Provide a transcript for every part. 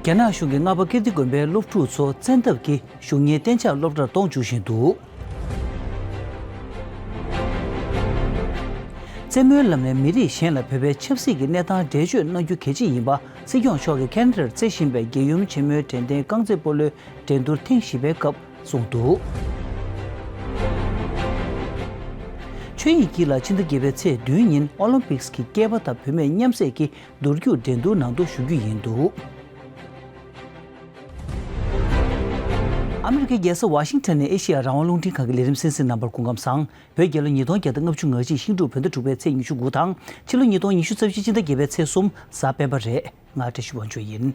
རྒྱ་ནག་གཞུང་གིས་རྔ་པ་ཀིརྟི་དགོན་པའི་སློབ་ཕྲུག་ཚོ་བཙན་ཐབས་ཀྱིས་གཞུང་གཉེར་གཏན་ཆགས་སློབ་གྲྭར་གཏོང་འཇུག་བཞིན་འདུག། རྩེད་མོའི་ལམ་ནས་མི་རིགས་གཞན་ལ་བོད་པའི་ཆབ་སྲིད་ཀྱི་གནས་སྟངས་འགྲེལ་བརྗོད་གནང་རྒྱུ་གལ་ཆེ་ཡིན་པ་སྲིད་སྐྱོང་མཆོག་གིས་ཁེན་རེར་རྩེ་བཞིན་པའི་རྒྱལ་ཡུམ་ཆེན་མོའི་དྲན་རྟེན་རྐང་རྩེད་སྤོ་ལོའི་འགྲན་བསྡུར་ཐེངས་བཞི་པའི་སྐབས། གསུངས་འདུག། ཆོས་ཡིག་གི་ལ་ཕྱི་ཟླ་བརྒྱད་པའི་ཚེས་བདུན་ཉིན Olympics གི་སྐྱེས་པ་དང་བུད་མེད་མཉམ་བསྲེས་ཀྱི་འདུར་རྒྱུག་འགྲན་བསྡུར་ནང་དུ་ཞུགས་རྒྱུ་ཡིན་འདུག། ཨ་མི་རི་ཀའི་རྒྱལ་ས་ཝཱ་ཤིང་ཐོན་ནས་ཨེ་ཤེ་ཡ་རང་དབང་རླུང་འཕྲིན་ཁང་གི་ལས་རིམ་སེམས་གསེང་རྣམ་པར་སྐུ་ཁམས་བཟང་བོས་རྒྱལ་ལོ་ཉིས་སྟོང་བརྒྱད་དང་ལྔ་བཅུ་ང་གཅིག་ཤིང་འབྲུག་བོད་ཟླ་དྲུག་པའི་ཚེས་ཉི་ཤུ་དགུ་དང་ཕྱི་ལོ་ཉིས་སྟོང་ཉི་ཤུ་རྩ་བཞི་སྤྱི་ཟླ་བརྒྱད་པའི་ཚེས་གསུམ་གཟའ་སྤེན་པ་རེད་ང་བཀྲ་ཤིས་དབང་ཆོས་ཡིན།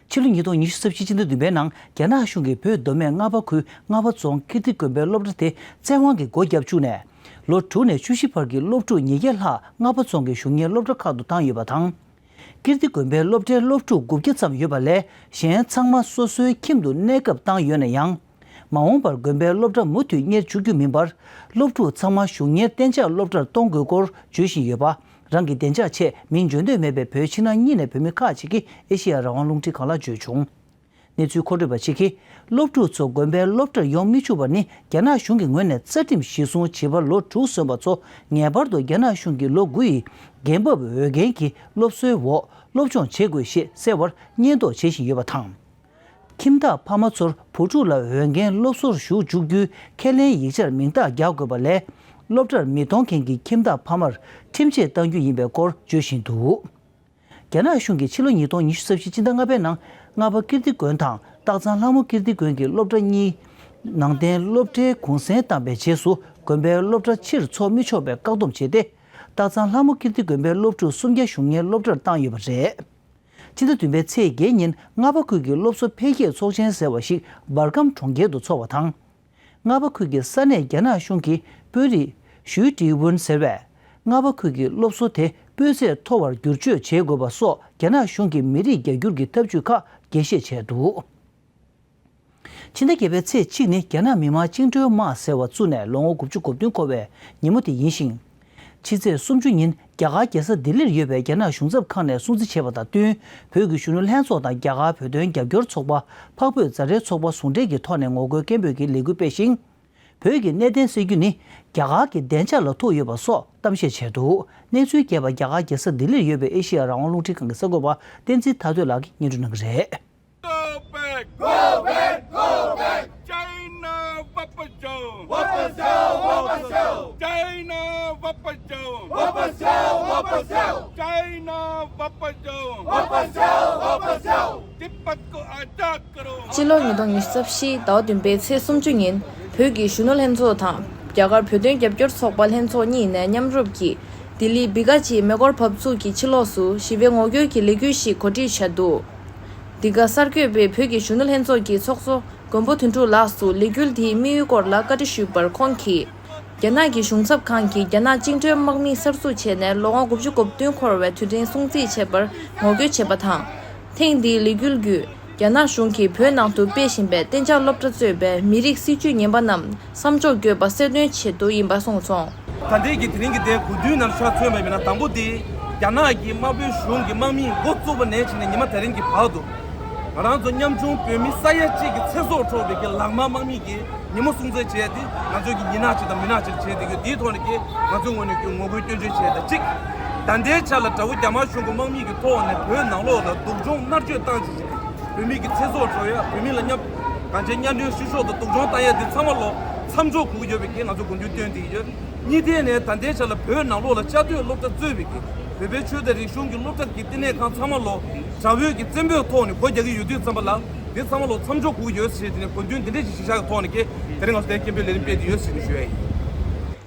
ཕྱི་ལོ་ཉིས་སྟོང་ཉི་ཤུ་རྩ་བཞི་སྤྱི་ཟླ་བདུན་པའི་ནང་རྒྱ་ནག་གཞུང་གིས་བོད་མདོ་སྨད་རྔ་བ་ཁུལ་རྔ་བ་རྫོང་ཀིརྟི་དགོན་པའི་སློབ་གྲྭ་དེ་བཙན་དབང་གིས་སྒོ་བརྒྱབ་བཅུག་ནས། ལོ་དྲུག་ནས་བཅུ་བཞི་བར་གྱི་སློབ་ཕྲུག་ཉིས་བརྒྱ་ལྷག་རྔ་བ་རྫོང་གི་གཞུང་གཉེར་སློབ་གྲྭ་ཁག་ཏུ་བཏང་ཡོད་པ་དང། ཀིརྟི་དགོན་པའི་སློབ་གྲྭའི་སློབ་ཕྲུག་དགུ་བརྒྱ་ཙམ་ཡོད་པ་ལས་གཞན་ཚང་མ་སོ་སོའི་ཁྱིམ་དུ་གནས་སྐབས་བཏང་ཡོད་ན་ཡང། མ་འོངས་པར་དགོན་པའི་སློབ་གྲྭ་མུ་མཐུད་གཉེར་བཅུག་རྒྱུ་མིན་པར་སློབ་ཕྲུག་ཚང་མ་གཞུང་གཉེར་གཏན་འཇགས་སློབ་གྲྭར་གཏོང་དགོས་སྐོར་བརྗོད་བཞིན་ཡོད་པ་རང་གི་བདེ་འཇགས་ཆེད་མིང་བརྗོད་འདོད་མེད་པའི་བོད་ཕྱི་ནང་གཉིས་ནས་བོད་མི་ཁག་ཅིག་གིས་ཨེ་ཤེ་ཡ་རང་དབང་རླུང་འཕྲིན་ཁང་ལ་བརྗོད་བྱུང། གནས་ཚུལ་མཁོ་སྤྲོད་པ་གཅིག་གིས་སློབ་ཕྲུག་ཚོ་དགོན་པའི་སློབ་གྲྭར་ཡོང་མི་ཆུག་པ་ནི་རྒྱ་ནག་གཞུང་གི་ངོས་ནས་རྩ་ཁྲིམས་གཞིར་བཟུང་བྱིས་པ་ལོ་དྲུག་སོན་པ་ཚོ་ངེས་པར་དུ་རྒྱ་ནག་གཞུང་གི་ལོ་དགུ་ཡི་འགན་བབས་འོས་འགན་གྱི་སློབ་གསོའི་འོག་སློབ་སྦྱོང་བྱེད་དགོས་ཞེས་གསལ་བར་སྙད་འདོགས་བྱེད་བཞིན་ཡོད་པ་དང། ཁྱིམ་བདག་ཕ་མ་ཚོར་བུ་ཕྲུག་ལ་འོས་འགན་སློབ་གསོར་ཞུགས་བཅུག་རྒྱུའི་ཁས་ལེན་ཡིག་ཆར་མིང་རྟགས་རྒྱག་དགོས་པ་ལས། སློབ་གྲྭར་མི་གཏོང་མཁན་གྱི་ཁྱིམ་བདག་ཕ་མར་ཁྲིམས་ཆད་གཏང་རྒྱུ་ཡིན་པའི་སྐོར་བརྗོད་བཞིན་འདུག་རྒྱ་ནག་གཞུང་གིས་ཕྱི་ལོ་ཉིས་སྟོང་ཉི་ཤུ་རྩ་བཞི་སྤྱི་ཟླ་ལྔ་པའི་ནང་རྔ་པ་ཀིརྟི་དགོན་དང་སྟག་ཚང་ལྷ་མོ་ཀིརྟི་དགོན་གྱི་སློབ་གྲྭ་གཉིས། ནང་བསྟན་སློབ་གྲྭའི་གུང་གསེང་བཏང་པའི་རྗེས་སུ་དགོན་པའི་སློབ་གྲྭ་ཕྱིར་འཚོགས་མི་ཆོག་པའི་བཀག་སྡོམ་བྱས་ཏེ། སྟག་ཚང་ལྷ་མོ་ཀིརྟི་དགོན་པའི་སློབ་ཕྲུག་སུམ་བརྒྱ་གཞུང་གཉེར་སློབ་གྲྭར་བཏང་ཡོད་པ་རེད། ཕྱི་ཟླ་བདུན་པའི་ཚེས་བརྒྱད་ཉིན་རྔ་པ་ཁུལ་གྱི་སློབ་གསོ་འཕེལ་རྒྱས་ཚོགས་ཆེན་ཟེར་བ་ཞིག་འབར་ཁམས་གྲོང་ཁྱེར་དུ་འཚོགས་པ་དང། རྔ་པ་ཁུལ་གྱི་ས་གནས་རྒྱ་ནག་གཞུང་གི་དཔོན་རིགས། ཞུའི་ཀྲི་ཝུན་ཟེར་བས། རྔ་པ་ཁུལ་གྱི་སློབ་གསོ་དེ་སྤུས་ཚད་མཐོ་བར་བསྒྱུར་བཅོས་བྱེད་དགོས་པ་སོགས་རྒྱ་ནག་གཞུང་གི་མི་རིགས་རྒྱ་སྒྱུར་གྱི་ཐབས་ཇུས་ཁག་རྒྱས་བཤད་བྱས་འདུག། ཕྱི་ཟླ་བརྒྱད་པའི་ཚེས་གཅིག་ནི་རྒྱ་ནག་མི་དམངས་བཅིངས་འགྲོལ་དམག་ཟེར་བ་བཙུགས་ནས་ལོ་ངོ་དགུ་བཅུ་གོ་བདུན་འཁོར་བའི་ཉིན་མོ་དེ་ཡིན་ཞིང། ཕྱི་ཚེས་སུམ་ཅུ་ཉིན་རྒྱ་གར་རྒྱལ་ས་ལྡི་ལིར་ཡོད་པའི་རྒྱ་ནག་གཞུང་ཚབ་ཁང་ནས་སྲུང་བརྩི་བྱས་པ་དང་བསྟུན་བོད་ཀྱི་གཞོན་ནུ་ལྷན་ཚོགས་དང་རྒྱ་གར་བོད་དོན་རྒྱབ་སྐྱོར་ཚོགས་པ་འཕགས་བོད་རྫ་རའི་ཚོགས་པ་ཟུང་འབྲེལ་གྱི་ཐོག་ནས་ངོ་རྒོལ་སྐད་འབོད་ཀྱི་ལས་འགུལ་སྤེལ་ཞིང། བོད་ཀྱི་གནད་དོན་སེལ་རྒྱུ་ནི་རྒྱ་གར་གྱི་བདེ་འཇགས་ལ་ཐུག་ཡོད་པ་སོགས་གཏམ་བཤད་བྱས་འདུག་གནས་ཚུལ་རྒྱས་པར་རྒྱ་གར་རྒྱལ་ས་ལྡི་ལིར་ཡོད་པའི་ཨེ་ཤེ་ཡ་རང་དབང་རླུང་འཕྲིན་ཁང་གི་གསར་འགོད་པ་བསྟན་འཛིན་ཐར་སྟོད་ལགས་ཀྱིས་སྙན་སྒྲོན་གནང་གི་རེད། སྤྱི་ལོ་ཉིས་སྟོང་ཉི་ཤུ་རྩ་བཞིའི་ཟླ་བ་བདུན་པའི་ཚེས་སུམ་ཅུ་ཉིན་བོད་ཀྱི་གཞོན་ནུ་ལྷན་ཚོགས་དང་རྒྱ་གར་བོད་དོན་རྒྱབ་སྐྱོར་ཚོགས་པ་ལྷན་ཚོགས་གཉིས་ནས་མཉམ་རུབ་ཀྱིས་ལྡི་ལི་སྦི་ག་ཅིའི་མེ་འཁོར་བབས་ཚུགས་ཀྱི་ཕྱི་ལོགས་སུ་ཞི་བའི་ངོ་རྒོལ་གྱི་ལས་འགུལ་ཞིག་གོ་སྒྲིག་བྱས་འདུག། འདི་ག་གསར་འགོད་པས་བོད་ཀྱི་གཞོན་ནུ་ལྷན་ཚོགས་ཀྱི་ཚོགས་གཙོ་མགོན་པོ་དོན་གྲུབ་ལགས་སུ་ལས་འགུལ་དེའི་དམིགས་ཡུལ་སྐོར་ལ་བཀའ་འདྲི་ཞུས་པར་ཁོང་གིས། རྒྱ་ནག་གི་གཞུང་ཚབ་ཁང་གིས་རྒྱ་ནག་བཅིངས་འགྲོལ་དམག་མི་གསར་འཛུགས་བྱས་ནས་ལོ་ངོ་དགུ་བཅུ་གོ་བདུན་འཁོར་བའི་དུས་དྲན་སྲུང་བརྩི་བྱེད་པར་ངོ་རྒོལ་བྱས་པ་དང། ཐེངས་འདིའི་ལས་འགུལ་བརྒྱུད་རྒྱ་ནག་གཞུང་གིས་བོད་ནང་དུ་སྤེལ་བཞིན་པའི་གཏན་འཇགས་སློབ་གྲྭ་གཙོས་པའི་མི་རིགས་སྲིད་བྱུས་ངན་པ་རྣམས་བསམ་སྦྱོར་འགྱོད་པ་གསལ་སྟོན་བྱེད་དུ་ཡིན་པ་གསུངས་སོང། ད་ལྟའི་གི་དེ་རིང་གི་ཟླའི་དགུན་དུས་ནམ་ཞར་ཐོན་པ་ཡིན་ན་དང་པོ་དེ་རྒྱ་ནག་གི་དམར་པོའི་གཞུང་གི་དམག་མིས་འགོ་བཙུགས་པ་ནས་བྱས་ནས་ཉི་མ་དེ་རིང་གི་བར་དུ། ང་རང་ཚོ་ཉམ་ཆུང་བོད་མི་ས་ཡ་གཅིག་གི་ཚེ་སྲོག་འཕྲོག་འདོད་ཀྱི་ལག་དམར་དམག་མིས་ཀྱི་ཉིན་མོ་སྲུང་བརྩི་བྱས་ཏེ་ང་ཚོའི་གི་ཡིད་ནག་ཅིག་དང་མི་ནག་ཅིག་བྱས་འདུག་གི་དེའི་ཐོག་ནས་ཀྱི་ང་ཚོའི་ངོ་ནས་ཀྱི་ངོ་རྒོལ་སྐྱོན་བརྗོད་བྱས་ད་གཅིག་ད་ལྟའི་ཆ་ལ་དགྲ་བོ་རྒྱ་དམར་གཞུང་གི་དམག་མིས་ཀྱི་ཐོག་ནས་བོད་ནང་ལོགས་ལ་སྡུག་སྦྱོང་མནར་གཅོད་བཏང་བྱས་བྱས་ཏེ་བོད་མི་ཀྱི་ཚེ་སྲོག་འཕྲོག་ཡ་བོད་མི་ལ་ཉམ། གངས་ཅན་གཉའ་གནོན་བཤུ་གཞོག་དང་སྡུག་སྦྱོང་བཏང་ཡས་དེ་ཚང་མ་ལོག་མཚམས་འཇོག་གོ་གི་ཡོད་པའི་གེགས་ང་ཚོ་དགོངས་ཚུལ་བཏོན་དེ་ཡོད། གཉིས་ཐད་ནས་ད་ལྟའི་ཆ་ལ་བོད་ནང་ལོག་ལ་བཅའ་སྡོད་སློབ་གྲྭ་གཙོས་བའི་གེགས་བོད་པའི་ཆོས་དད་རིག་གཞུང་གི་སློབ་གྲྭ་དགེ་ལྟེ་གནས་ཁང་ཚང་མ་ལོག་དྲ་བོད་ཀྱི་བཙན་པོའི་ཐོག་ནས་གོ་རྒྱག་གི་ཡོད་དུས་ཙམ་པ་ལ་དེ་ཚང་མ་ལོག་མཚམས་འཇོག་གོ་གི་ཡོད་ཟེར་ཏེ་ནས་དགོངས་དོན་འདི་འདྲས་ཀྱི་གཞི་བཞག་གི་ཐོག་ནས་ཀྱེ་དེ་རིང་ང་ཚོ་དད་སྐྱེན་པོའི་ལས་རིམ་སྤེལ་དེ་ཡོད་ཟེར་ནས་ཞུས་ཡས་ཡིན།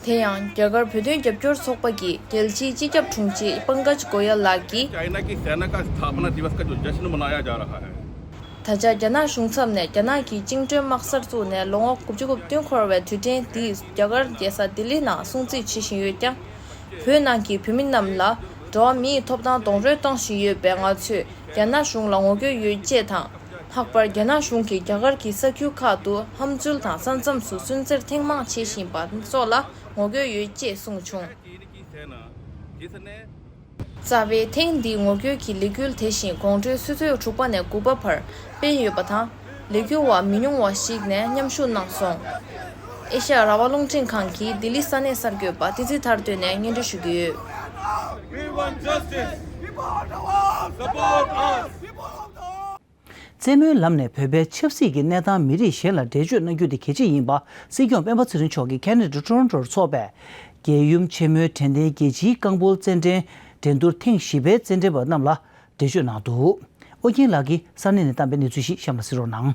དེ་ཡང་རྒྱ་གར་བོད་དོན་རྒྱབ་སྐྱོར་ཚོགས་པ་གི་རྒྱལ་སྤྱིའི་སྤྱི་ཁྱབ་དྲུང་ཆེ་པངྐ་ཇ་གོ་ཡ་ལགས་ཀྱིས། ད་ཆ་རྒྱ་ནག་གཞུང་ཚབ་ནས་རྒྱ་ནག་གི་བཅིངས་གྲོལ་དམག་གསར་བཙུགས་ནས་ལོ་ངོ་དགུ་བཅུ་དགུ་བདུན་འཁོར་བའི་དུས་དྲན་འདི་རྒྱ་གར་རྒྱལ་ས་ལྡི་ལི་ནང་སྲུང་བརྩི་བྱེད་བཞིན་ཡོད་ཀྱང། བོད་ནང་གི་བོད་མི་རྣམས་ལ་འགྲོ་བ་མིའི་ཐོབ་ཐང་རྡོག་རོལ་གཏོང་བཞིན་ཡོད་པས་ང་ཚོས་རྒྱ་ནག་གཞུང་ལ་ངོ་རྒོལ་ཡོད་ཅེས་དང། ལྷག་པར་རྒྱ་ནག་གཞུང་གིས་རྒྱ་གར་གྱི་ས་ཁུལ་ཁག་ཏུ་ཧམ་འཛུལ་དང་ས་མཚམས་སུ་སུན་གཙེར་ཐེངས་མང་བྱེད་བཞིན་པ་སོགས་ལ་ངོ་རྒོལ་ཡོད་ཅེས་གསུངས་བྱུང། རྩ་བའི་ཐེངས་འདིའི་ངོ་བསྐྱོད་ཀྱི་ལས་འགུལ་དེ་བཞིན་དགོང་དྲོའི་ཆུ་ཚོད་དྲུག་པ་ནས་དགུ་པ་བར་སྤེལ་ཡོད་པ་དང། ལས་འགུལ་བ་མི་ཉུང་བ་ཞིག་ནས་མཉམ་ཞུགས་གནང་སོང། ཨེ་ཤ་ཡ་ར་བ་རླུང་འཕྲིན་ཁང་གིས་ལྡི་ལི་ས་གནས་གསར་འགོད་པ་ཏི་ཙི་ཐར་བཏོན་ནས་སྙན་སྒྲོན་ཞུ་གི་ཡོད། རྩེད་མོའི་ལམ་ནས་བོད་པའི་ཆབ་སྲིད་ཀྱི་གནས་སྟངས་མི་རིགས་གཞན་ལ་འགྲེལ་བརྗོད་གནང་རྒྱུ་དེ་གལ་ཆེ་ཡིན་པ་སྲིད་སྐྱོང་སྤེན་པ་ཚེ་རིང་མཆོག་གིས་ཁེ་ནེ་ཏྲི་ཏོརོན་ཏོར་འཚོགས་པའི་རྒྱལ་ཡུམ་ཆེན་མོའི་དྲན་རྟེན་རྒྱལ་སྤྱིའི་རྐང་སྤོལ་རྩེད་འགྲན་འགྲན་བསྡུར་ཐེངས་བཞི་པའི་རྩེད་འགྲན་པ་རྣམས་ལ་འགྲེལ་བརྗོད་གནང་འདུག་ཨོ་རྒྱན་ལགས་ཀྱིས་ས་གནས་ནས་བཏང་པའི་གནས་ཚུལ་ཞིག་གཤམ་ལ་གསལ་བོར་གནང།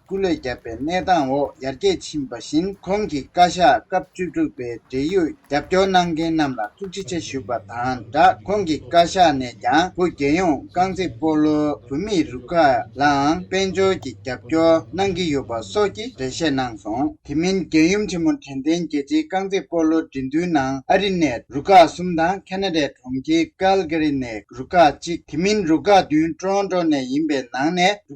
སྐུ་ལས་བརྒྱབ་པའི་གནས་སྟངས་འོག་ཡར་རྒྱས་ཕྱིན་པ་བཞིན་ཁོང་གིས་བཀའ་ཤག་སྐབས་བཅུ་དྲུག་པའི་འབྲེལ་ཡོད་རྒྱབ་སྐྱོར་གནང་མཁན་རྣམས་ལ་ཐུགས་རྗེ་ཆེ་ཞུས་པ་དང་སྦྲགས་ཁོང་གིས་བཀའ་ཤག་ནས་ཀྱང་བོད་རྒྱལ་ཡོངས་རྐང་རྩེད་སྤོ་ལོའི་བུད་མེད་རུ་ཁག་ལའང་དཔལ་འབྱོར་གྱི་རྒྱབ་སྐྱོར་གནང་གི་ཡོད་པ་སོགས་ཀྱི་འགྲེལ་བཤད་གནང་སོང། དེ་མིན་རྒྱལ་ཡུམ་ཆེན་མོ་དྲན་རྟེན་རྒྱལ་སྤྱིའི་རྐང་རྩེད་སྤོ་ལོ་འགྲན་བསྡུར་ནང་ཨ་རི་ནས་རུ་ཁག་གསུམ་དང་ཁ་ན་ཏའི་གྲོང་ཁྱེར་ཀལ་ཀེ་རི་ནས་རུ་ཁག་གཅིག་དེ་མིན་རུ་ཁག་བདུན་ཀྲོན་ཀྲོ་ནས་ཡིན་པའི་ནང་ནས་རུ་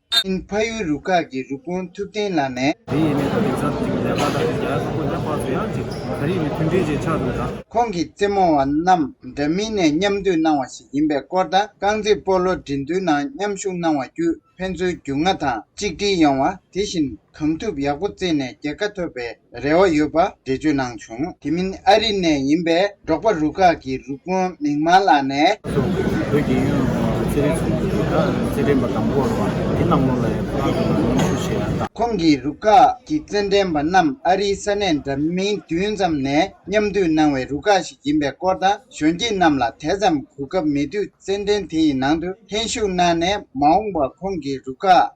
ཨིན་ཕ་ཡུལ་རུ་ཁག་གི་རུ་དཔོན་ཐུབ་བསྟན་ལགས་ནས། དེ་ཡིན་མིན་ཐ་དད་ཚབ་ཅིག་ལས་པ་དང་ནི་རྒྱལ་ཚོགས་པོ་ལྷན་བར་དུ་ཡང་ཅིག་ད་རེས་ནི་མཐུན་འབྲེལ་བཅས་ཆགས་འདུག་ད། ཁོང་གིས་རྩེད་མོ་བ་རྣམས་འདྲ་མིན་ནས་མཉམ་བསྡུས་གནང་བ་ཞིག་ཡིན་པའི་སྐོར་དང་རྐང་རྩེད་སྤོ་ལོ་འགྲན་བསྡུར་ནང་མཉམ་ཞུགས་གནང་བ་བརྒྱུད་ཕན་ཚུན་རྒྱུས་མངའ་དང་གཅིག་སྒྲིལ་ཡོང་བ་དེ་བཞིན་གང་ཐུབ་ཡག་པོ་རྩེས་ནས་རྒྱལ་ཁ་ཐོབ་པའི་རེ་བ་ཡོད་པ་འགྲེལ་བརྗོད་གནང་བྱུང། དེ་མིན་ཨ་རི་ནས་ཡིན་པའི་འབྲོག་པ་རུ་ཁག་གི་རུ་དཔོན་མིག་དམར་ལགས་ནས། སོགས་ཀྱིས་བོད་ཀྱི་ཡུལ་ལུང་དང་རྩེད་རིགས་སོགས་ཀྱི་ཐད་ཀར་རྩེད་འགྲན་པ་དང་པོར་བ་དེ་གནང་ལུགས་ལ་ཡང་ཁག་དགོས་པ་ནན་གསུངས་བྱས་ཡོད་སྟབས། ཁོང་གིས་རུ་ཁག་གི་རྩེད་འགྲན་པ་རྣམས་ཨ་རིའི་ས་གནས་འདྲ་མིན་བདུན་ཙམ་ནས་མཉམ་འདུས་གནང་བའི་རུ་ཁག་ཞིག་ཡིན་པའི་སྐོར་དང་གཞོན་སྐྱེས་རྣམས་ལ་དེ་ཙམ་གོ་སྐབས་མེད་དུས་རྩེད་འགྲན་དེ་ཡི་ནང་དུ་ལྷན་ཞུགས་གནང་ནས་མ་འོངས་པར་ཁོང་གི་རུ་ཁག་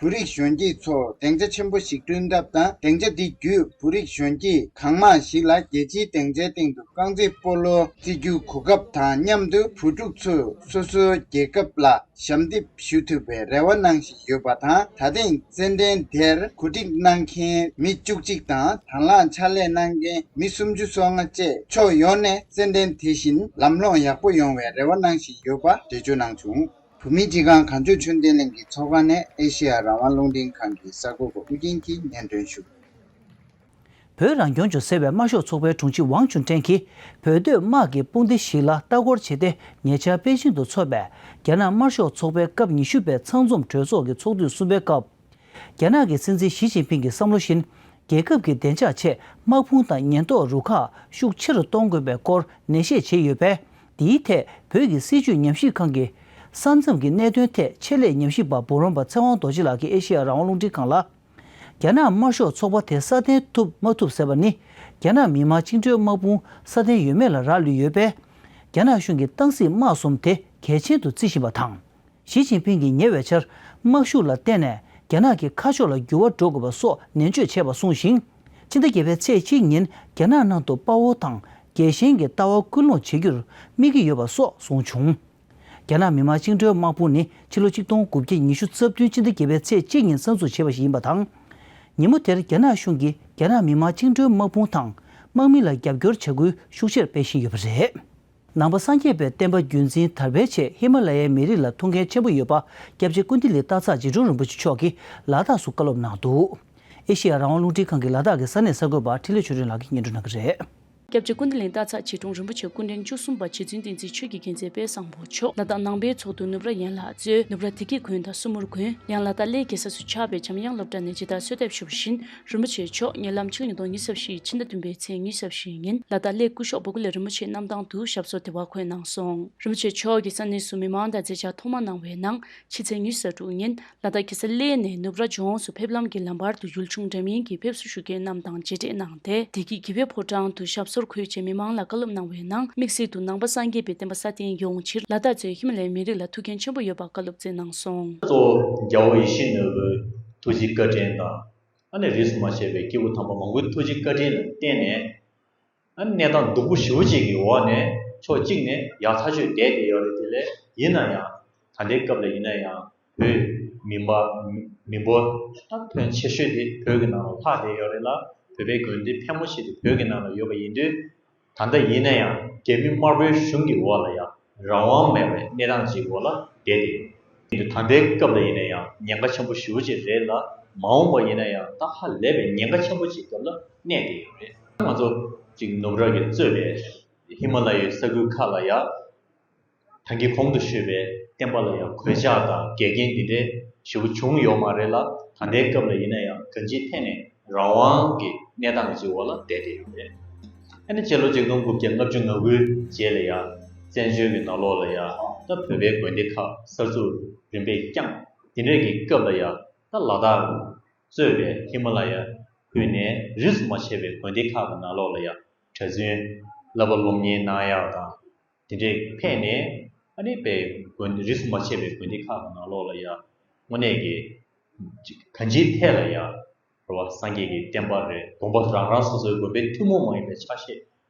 བོད་རིགས་གཞོན་སྐྱེས་ཚོར་སྡིངས་ཆ་ཆེན་པོ་ཞིག་བསྐྲུན་ཐབས་དང་སྡིངས་ཆ་འདི་བརྒྱུད་བོད་རིགས་གཞོན་སྐྱེས་གང་མང་ཞིག་ལ་རྒྱལ་སྤྱིའི་སྡིངས་ཆའི་སྟེང་དུ་རྐང་རྩེད་སྤོ་ལོ་རྩེ་རྒྱུའི་གོ་སྐབས་དང་མཉམ་དུ་བོད་ཕྲུག་ཚོས་སོ་སོའི་རྒྱལ་ཁབ་ལ་ཞབས་འདེབས་ཞུ་ཐུབ་པའི་རེ་བ་གནང་བཞིན་ཡོད་པ་དང་ད་ཐེངས་རྩེད་འགྲན་དེར་གོ་སྒྲིག་གནང་མཁན་མི་བཅུ་གཅིག་དང་དང་བླངས་ཕྱག་ལས་གནང་མཁན་མི་སུམ་ཅུ་སོ་ལྔ་བཅས་ཕྱོགས་ཡོངས་ནས་རྩེད་འགྲན་དེ་བཞིན་ལམ་ལྷོངས་ཡག་པོ་ཡོང་བའི་རེ་བ་གནང་བཞིན་ཡོད་པ་འགྲེལ་བརྗོད་གནང་བྱུང། བུ་མེད་སྤྱི་ཁང་གངས་ལྗོངས་ཆོས་ལྡན་གླིང་གི་ཚོགས་ཁང་ནས་ཨེ་ཤེ་ཡ་རང་དབང་རླུང་འཕྲིན་ཁང་གི་གསར་འགོད་པ་ཨུ་རྒྱན་གྱིས་སྙན་སྒྲོན་ཞུ། བོད་རང་སྐྱོང་ལྗོངས་ཟེར་བའི་དམར་ཤོག་ཚོགས་པའི་དྲུང་ཆེ་ཝང་ཅུན་ཀྲེང་གིས་བོད་སྡོད་དམག་གི་དཔུང་སྡེ་ཞིག་ལ་ལྟ་སྐོར་བྱས་ཏེ་ཉེ་ཆར་པེ་ཅིང་དུ་འཚོགས་པའི་རྒྱ་ནག་དམར་ཤོག་ཚོགས་པའི་སྐབས་ཉི་ཤུ་པའི་ཚང་འཛོམས་གྲོས་ཚོགས་ཀྱི་ཚོགས་དུས་གསུམ་པའི་སྐབས། རྒྱ་ནག་གི་སྲིད་འཛིན་ཞི་ཅིན་ཕིང་གི་བསམ་བློ་བཞིན་རྒྱལ་ཁབ་ཀྱི་བདེ་འཇགས་ཆེད་དམག་དཔུང་དང་ཉེན་རྟོག་རུ་ཁག་ཤུགས་ཆེ་རུ་གཏོང་དགོས་པའི་སྐོར་ནན་བཤད་བྱས་ཡོད་པས་འདིའི་ཐད་བོད་ཀྱི་སྲིད་བྱུས་ཉམས་ཞིབ་ཁང་གི། ས་མཚམས་ཀྱི་གནད་དོན་ཐད་ཆེད་ལས་ཉམས་ཞིབ་པ་འབུམ་རམས་པ་ཚེ་དབང་རྡོ་རྗེ་ལགས་ཀྱིས་ཨེ་ཤེ་ཡ་རང་དབང་རླུང་འཕྲིན་ཁང་ལ། རྒྱ་ནག་དམར་ཤོག་ཚོགས་པ་དེ་སྲ་བརྟན་ཐུབ་མ་ཐུབ་ཟེར་བ་ནི་རྒྱ་ནག་མི་དམངས་བཅིངས་འགྲོལ་དམག་དཔུང་སྲ་བརྟན་ཡོད་མེད་ལ་རག་ལུས་ཡོད་པས། རྒྱ་ནག་གཞུང་གི་ཏང་སྲིད་དམག་གསུམ་དེ་གལ་ཆེན་དུ་བརྩི་བཞིན་པ་དང། ཞི་ཅིན་ཕིང་གིས་ཉེ་བའི་ཆར་དམག་ཤུགས་ལ་བརྟེན་ནས་རྒྱ་ནག་གི་ཁ་ཕྱོགས་ལ་འགྱུར་བ་འགྲོ་དགོས་པ་སོགས་ནན་བརྗོད་བྱས་པ་གསུངས་ཤིང། ཕྱི་ཟླ་བརྒྱད་པའི་ཚེས་གཅིག་ཉིན་རྒྱ་ནག་ནང་དུ་དཔའ་བོ་དང་རྒྱལ་ཞེན་གྱི་ལྟ་བ་སྐུལ་སློང་བྱེད་རྒྱུར་དམིགས་ཀྱི་ཡོད་པ་སོགས་གསུངས་བྱུང། རྒྱ་ནག་མི་དམངས་བཅིངས་འགྲོལ་དམག་དཔུང་ནི་ཕྱི་ལོ་གཅིག་སྟོང་དགུ་བརྒྱ་ཉི་ཤུ་རྩ་བདུན་ཕྱི་ཟླ་བརྒྱད་པའི་ཚེས་གཅིག་ཉིན་གསར་འཛུགས་བྱས་པ་ཞིག་ཡིན་པ་དང། ཉིན་མོ་དེར་རྒྱ་ནག་གཞུང་གིས་རྒྱ་ནག་མི་དམངས་བཅིངས་འགྲོལ་དམག་དཔུང་དང་དམག་མི་ལ་རྒྱབ་སྐྱོར་བྱ་འགུལ་ཤུགས་ཆེར་སྤེལ་བཞིན་ཡོད་པ་རེད། ནང་པ་སངས་རྒྱས་པའི་བསྟན་པ་རྒྱུན་འཛིན་དར་སྤེལ་ཆེད་ཧི་མ་ལ་ཡའི་མི་རིགས་ལ་ཐུགས་འགན་ཆེན་པོ་ཡོད་པ་སྐྱབས་རྗེ་ཀུན་བདེ་ལི་སྟག་ཚག་རྗེ་དྲུང་རིན་པོ་ཆེ་མཆོག་གིས་ལ་དྭགས་སུ་བཀའ་སློབ་གནང་འདུག་ཨེ་ཤེ་ཡ་རང་དབང་རླུང་འཕྲིན་ཁང་གི་ལ་དྭགས་ཀྱི་ས་གནས་གསར་འགོད་པ་འཕྲིན་ལས་ཆོས་སྒྲོན་ལགས་ཀྱིས་སྙན་སྒྲོན་གནང་གི་རེད། སྐྱབས་རྗེ་ཀུན་བདེ་ལི་སྟག་ཚག་རྗེ་དྲུང་རིན་པོ་ཆེ་སྐུ་འཕྲེང་བཅུ་གསུམ་པ་རྗེ་བཙུན་བསྟན་འཛིན་ཆོས་ཀྱི་རྒྱལ་མཚན་དཔལ་བཟང་པོ་མཆོག་ལ་དྭགས་ནང་པའི་ཚོགས་འདུ་ནུབ་ར་ཡན་ལག་གཙོས་ནུབ་ར་དེ་གའི་དགོན་དང་སུ་མུར་དགོན། ཡང་ལ་དྭགས་སླེ་དགེ་ས་སུ་ཆགས་པའི་འཇམ་དབྱངས་སློབ་གྲྭ་ནས་རྗེ་དར་གསོལ་འདེབས་ཞུ་བ་བཞིན་རིན་པོ་ཆེ་མཆོག་ཉེ་ལམ་ཕྱི་ལོ་ཉིས་སྟོང་ཉིས་བཞི་ཕྱི་ཟླ་བདུན་པའི་ཚེས་ཉི་ཤར་བཞི་ཉིན་ལ་དྭགས་ལས་སྐུ་ཤོག་བུ་གུ་ལས་རིན་པོ་ཆེ་གནམ་ཐང་དུ་ཞབས་སོར་དེ་བ་འཁོད་གནང་སོང། རིན་པོ་ཆེ་མཆོག་གིས་ས་གནས་སུ་མི་མང་དང་མཛད་འཆར་ཐོག་མ་གནང་བའི་ནང་ཕྱི་ཚེས་ཉི་ཤར་དྲུག་ཉིན་ལ་དྭགས་ཀྱི་སེ་ལེ་ནས་ནུབ་ར་ལྗོངས་སུ་ཕེབས་ལམ་གྱི་ལམ་བར་དུ་ཡུལ་ཆུང་འདྲ་མིན་གྱི་ཕེབས་བསུ་ཞུ་མཁན་རྣམས་དང་མཇལ་འཕྲད་གནང་སྟེ་བདེ་སྐྱིད་དགེ་བའི་ཕོ་བྲང་དུ་ཞབས་སོར་འཁོད་ཆེད་མི་མང་ལ་བཀའ་སློབ་གནང་བའི་ནང་དམིགས་བསལ་དུ་ནང་པ་སངས་རྒྱས་པའི་བསྟན་པ་སྲ་བརྟན་ཡོང་ཕྱིར་ལ་དྭགས་ཚོས་ཧི་མ་ལའི་མི་རིགས་ལ་ཐུགས་འགན་ཆེན་པོ་ཡོད་པ་བཀའ་སློབ་སྩལ་གནང་སོང། གཙོ་བོ་རྒྱལ་བོ་ཡེ་ཤེས་ནོར་བུའི་ཐུགས་རྗེའི་བཀའ་དྲིན་དང། ཨ་ནི་རིས་སུ་མ་ཆད་པའི་སྐྱེས་བུ་དམ་པ་མང་པོའི་ཐུགས་རྗེ་བཀའ་དྲིན་ལ་བརྟེན་ནས། ཨ་ནི་གནས་སྟངས་སྡུག་པོ་བཞི་བོ་གཅིག་གི་འོག་ནས་ཕྱོགས་གཅིག་ནས་ཡག་ཐག་ཆོད་བསྡད་བསྡད་ཡོད་རེད་དེ་ལས་ཡིན་ན་ཡང་ད་ལྟའི་སྐབས་ལ་ཡིན་ན་ཡང་བོད་མི་འབའ་མི་འབོ་ད་ཕོན་ཆེ་ཤོས་དེ་བོད་ཀྱི་ནང་ལ་ལྷག་བསྡད་ཡོད་རེད་ལ་བོད་པའི་དགོན་སྡེ་ཕལ་མོ་ཆེ་དེ་བོད་ཀྱི་ནང་ལ་ཡོད་པ་ཡིན་དུས། ད་ལྟ་ཡིན་ན་ཡང་རྒྱ་མི་དམར་པོའི་གཞུང་གི་འོག་ལ་ཡང་རང་དབང་མེད་པའི་གནས་སྟངས་ཅིག་འོག་ལ་བསྡད་དེ་ཡོད། དེང་དུས་དམ་པའི་སྐབས་ལ་ཡིན་ན་ཡང་ཉེན་ཁ་ཆེན་པོ་ཞི་བོ་ཅིག་རེད་ལ་མ་འོངས་པར་ཡིན་ན་ཡང་ད་ཧ་ལས་པའི་ཉེན་ཁ་ཆེན་པོ་ཅིག་སྐབས་ལ་གནས་བསྡད་ཡོད་རེད། ང་ཚོ་གཅིག་ནུབ་རགས་ཀྱིས་གཙོས་པའི་ཧི་མ་ལ་ཡའི་ས་ཁུལ་ཁག་ལ་ཡང། ཐང་གི་གོང་དུ་བཤོས་པའི་བསྟན་པ་ལ་ཡང་གོད་ཆག་དང་འགལ་རྐྱེན་འདི་འདྲའི་ཞེ་པོ་བྱུང་ཡོད་མ་རེད་ལ་ད་ལྟའི་སྐབས་ལ་ཡིན་ན་ཡང་དོན་སྤྱིའི་ཐད་ནས་རང་དབང་གི་གནས་སྟངས་ཀྱི་འོག་ལ་བསྡད་བསྡད་ཡོད་རེད། ཨ་ནི་སྤྱི་ལོ་གཅིག་སྟོང་དགུ་བརྒྱ་ལྔ་བཅུ་ང་དགུའི་རྗེས་ལ་ཡང་བཙན་བྱོལ་གྱི་ནང་ལོགས་ལ་ཡང་ད་བོད་པའི་དགོན་སྡེ་ཁག་གསར་འཛུགས་རིམ་པས་བསྐྱངས་དེ་འདྲས་ཀྱི་སྐབས་ལ་ཡང་ད་ལ་དྭགས་གཙོས་པའི་ཧི་མ་ལ་ཡ་ཁུལ་ནས་རིས་སུ་མ་ཆད་པའི་དགོན་སྡེ་ཁག་གི་ནང་ལོགས་ལ་ཡང་གྲྭ་བཙུན་བསླབ་པ་སློབ་གཉེར་གནང་ཡག་དང། དེ་འདྲའི་ཕན་ནས་ཨ་མེས་པའི་དགོན་སྡེ་རིས་སུ་མ་ཆད་པའི་དགོན་སྡེ་ཁག་གི་ནང་ལོགས་ལ་ཡང་དངོས་གནས་ཀྱི། གང་ཅིའི་ཐད་ལ་ཡང། འགྲོ་བ་སངས་རྒྱས་ཀྱི་བསྟན་པ་རེད་དགོངས་པ་རང་རང་སོ་སོའི་དགོན་པའི་ཐུན་མོང་མ་ཡིན་པའི་ཆ་ཤས་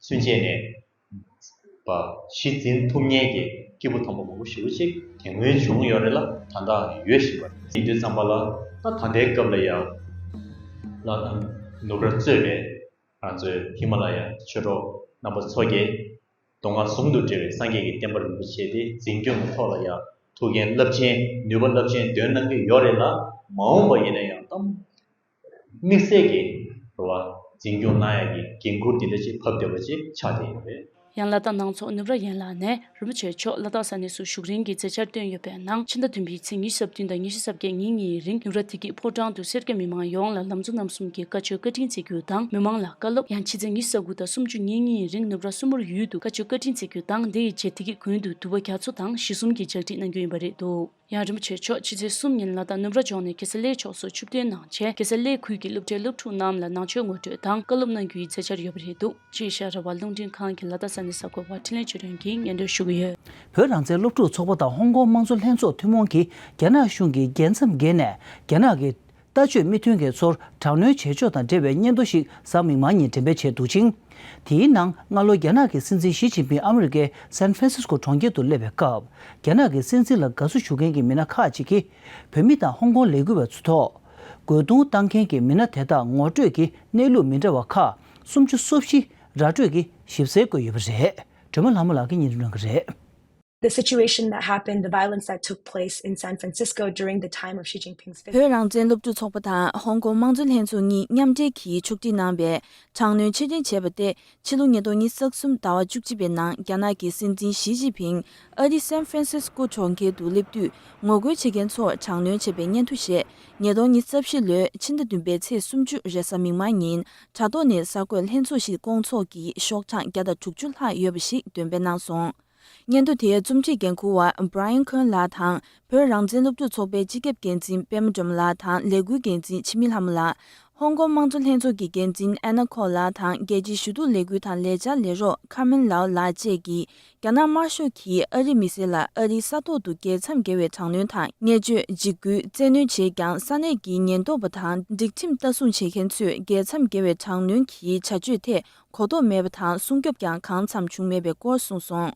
སུན་བཅད་ནས། པ་གཞི་འཛིན་ཐུབ་ཉེན་གྱི་སྐྱེས་བུ་དང་པོ་མང་པོ་ཞི་བོ་གཅིག་དེ་སྔོན་བྱུང་ཡོད་རེད་ལ་ད་ལྟའང་ཡོད་བཞིན་པ་རེད། ཡིན་དུས་བརྩམས་པ་ལ་ད་ད་ལྟའི་སྐབས་ལ་ཡང། ལ་ནུབ་ར་གཙོས་པའི་རང་གཙོའི་ཧི་མ་ལ་ཡ་ཆོས་གྲོགས་རྣམ་པ་ཚོ་རྒྱལ་མདོ་སྔགས་ཟུང་དུ་འབྲེལ་བའི་སངས་རྒྱས་ཀྱི་བསྟན་པར་རིན་པོ་ཆེ་དེ་འཛིན་སྐྱོང་གི་ཐོག་ལ་ཡང་ཐུགས་མཁྱེན་རླབས་ཆེན་ནུས་པ་རླབས་ཆེན་འདོན་གནང་གི་ཡོད་རེད་ལ་མ་འོངས་པ་ཡིན་ན་ཡང་དམིགས་བསལ་གྱི་རེ་བ་འཛིན་སྐྱོང་གནང་ཡག་གི་འགན་ཁུར་འདི་འདྲ་ཅིག་ཕབ་བསྡད་པ་ཅིག་ཆགས་བསྡད་ཡོད་རེད། ཡང་ལ་དྭགས་ནང་ཚོགས་གནུབས་ར་ཡན་ལགས་ནས་རིན་པོ་ཆེ་མཆོག་ལ་དྭགས་ས་གནས་སུ་བཞུགས་རིང་གི་མཛད་འཆར་བཏོན་ཡོད་པས། ནང་ཕྱི་ཟླ་བདུན་པའི་ཚེས་ཉི་ཤུ་ཟབ་བདུན་དང་ཉི་ཤུ་ཟབ་བརྒྱད་ཉིན་གཉིས་རིང་ཡུ་ར་དྷི་ཀི་ཕོ་བྲང་དུ་སེར་སྐྱ་མི་མང་ཡོངས་ལ་ལམ་གཙོ་རྣམ་གསུམ་གྱི་བཀའ་ཆོས་བཀའ་དྲིན་བརྩེ་རྒྱུ་དང་མི་མང་ལ་བཀའ་སློབ། ཡང་ཕྱི་ཚེས་ཉི་ཤུ་ཟབ་དགུ་དང་སུམ་ཅུ་ཉིན་གཉིས་རིང་ནུབ་ར་སུ་མུར་ཡུལ་དུ་བཀའ་ཆོས་བཀའ་དྲིན་བརྩེ་རྒྱུ་དང་དེ་ཡི་རྗེས་དྷི་ཀི་དགོན་དུ་དུ་བ་རྒྱ་མཚོ་དང་གཞི་གསུམ་གྱི་ལྗགས་འདྲིད་གནང་རྒྱུ་ཡིན་པ་རེད་འདུག་ཡང་རིན་པོ་ཆེ་མཆོག་ཕྱི་ཚེས་གསུམ་ཉིན་ལ་དྭགས་ནུབ་ར་ལྗོངས་ནས་གེ་སར་ལའི་ཕྱོགས་སུ་ཆུ་བསྟོད་གནང་རྗེས་གེ་སར་ལའི་ཁུལ་གྱི་སློབ་གྲྭའི་སློབ་ཕྲུག་རྣམས་ལ་ནང་ཆོས་ངོ་སྤྲོད་དང་བཀའ་སློབ་གནང་རྒྱུ་ཡི་མཛད་འཆར་ཡོད་པ་རེད་འདུག། ཅེས་བཤད་རེ་བ་རླུང་འཕྲིན་ཁང་གི་ལ་དྭགས་ས་གནས་གསར་འགོད་པ་ཁྲིན་ལེ་ཅུས་ཀྲེང་གིས་སྙན་སྒྲོན་ཞུ་གི་ཡོད། བོད་རང་བཙན་སློབ་ཕྲུག་ཚོགས་པ་དང་ཧོང་ཀོང་དམངས་གཙོ་ལྷན་ཚོགས་ཐུན་མོང་གིས་རྒྱ་ནག་གཞུང་གི་རྒྱལ་མཚམས་བརྒལ་ནས་རྒྱ་ནག་གི། ལྟ་སྤྱོད་མི་མཐུན་མཁན་ཚོར་དྲག་གནོན་བྱེད་ཕྱོགས་དང་འབྲེལ་བའི་སྙན་ཐོ་ཞིག་གཟའ་མིག་མ་ཉིན་འགྲེམས་སྤེལ་བྱས་འདུག་ཅིང། དེའི་ནང་སྔ་ལོ་རྒྱ་ནག་གི་སྲིད་འཛིན་ཞི་ཅིན་ཕིན་ཨ་མི་རི་ཀའི San Francisco གྲོང་ཁྱེར་དུ་སླེབས་པའི་སྐབས་རྒྱ་ནག་གི་སྲིད་འཛིན་ལ་དགའ་བསུ་ཞུ་མཁན་གྱི་མི་སྣ་ཁག་ཅིག་གིས་བོད་མི་དང་ཧོང་ཀོང་ལས་འགུལ་བ་ཚོའི་ཐོག་རྒོལ་རྡུང་བཏང་མཁན་གྱི་མི་སྣ་དེ་དག་ངོ་སྤྲོད་ཀྱི་གནས་ལུགས་མི་འདྲ་བ་ཁག་སུམ་ཅུ་སོ་བཞི་ར་སྤྲོད་ཀྱི་ཞིབ་གསལ་བཀོད་ཡོད་པ་རེད་སྒྲོལ་མ་ལྷ་མོ་ལགས་ཀྱིས་གཉིས་ལུགས་གནང་གི་རེད། བོད་རང་བཙན་སློབ་ཕྲུག་ཚོགས་པ་དང་ཧོང་ཀོང་དམངས་གཙོ་ལྷན་ཚོགས་གཉིས་མཉམ་འབྲེལ་གྱིས་ཕྱོགས་སྒྲིག་གནང་པའི་དྲག་གནོན་ཕྱིར་དྲན་བྱས་པ་སྟེ་ཕྱི་ལོ་ཉིས་སྟོང་ཉིས་ཟག་གསུམ་ཟླ་བ་བཅུ་གཅིག་པའི་ནང་རྒྱ་ནག་གི་སྲིད་འཛིན་ཞི་ཅིན་ཕིང་ཨ་རིའི་སན་ཧྥི་རན་སི་ཀོ་གྲོང་ཁྱེར་དུ་སླེབས་དུས་ངོ་རྒོལ་བྱེད་མཁན་ཚོར་དྲག་གནོན་བྱས་པའི་སྙན་ཐོ་ཞེས་ཉིས་སྟོང་ཉིས་བརྒྱ་བཞི་ལོའི་ཕྱི་ཟླ་བདུན་པའི་ཚེས་སུམ་ཅུ་རེ་གཟའ་མིག་དམར་ཉིན་དྲ་ཐོག་ནས་གསར་འགོད་ལྷན་ཚོགས་ཤིག་བསྐོང་ཚོགས་ཀྱིས་ཤོག་གྲངས་བརྒྱ་དང་དྲུག་ཅུ་ལྷག་ཡོད་པ་ཞིག་འདོན་སྤེལ་གནང་སོང། སྙན་ཐོ་དེའི་རྩོམ་སྒྲིག་འགན་འཁུར་བ Brian Cohen ལགས་དང་བོད་རང་བཙན་སློབ་ཕྲུག་ཚོགས་པའི་སྤྱི་ཁྱབ་འགན་འཛིན་པད་མ་འབྲོམ་ལགས་དང་ལས་འགུལ་འགན་འཛིན་འཆི་མེད་ལྷ་མོ་ལགས། ཧོང་ཀོང་དམངས་གཙོ་ལྷན་ཚོགས་ཀྱི་འགན་འཛིན Anna Kwok ལགས་དང་རྒྱལ་སྤྱིའི་ཞུ་གཏུག་ལས་འགུལ་དང་ལས་འཆར་ལས་རོགས Carmen Lau ལགས་བཅས་ཀྱིས་རྒྱ་ནག་དམར་ཤོག་གིས་ཨ་རིའི་མི་སེར་ལ་ཨ་རིའི་ས་ཐོག་ཏུ་རྒྱལ་མཚམས་བརྒལ་བའི་དྲག་གནོན་དང་བརྙས་བཅོས་འཇིགས་སྐུལ་བཙན་གནོན་བྱས་ཀྱང་ས་གནས་ཀྱི་ཉེན་རྟོག་པ་དང་སྒྲིག་ཁྲིམས་ལྟ་སྲུང་བྱེད་མཁན་ཚོས་རྒྱལ་མཚམས་བརྒལ་བའི་དྲག་གནོན་གྱི་བྱ་སྤྱོད་ཐད་གོ་རྟོགས་མེད་པ་དང་སྲུང་སྐྱོབ་ཀྱང་གང་འཚམ་བྱུང་མེད་པའི་སྐོར་གསུངས་སོང།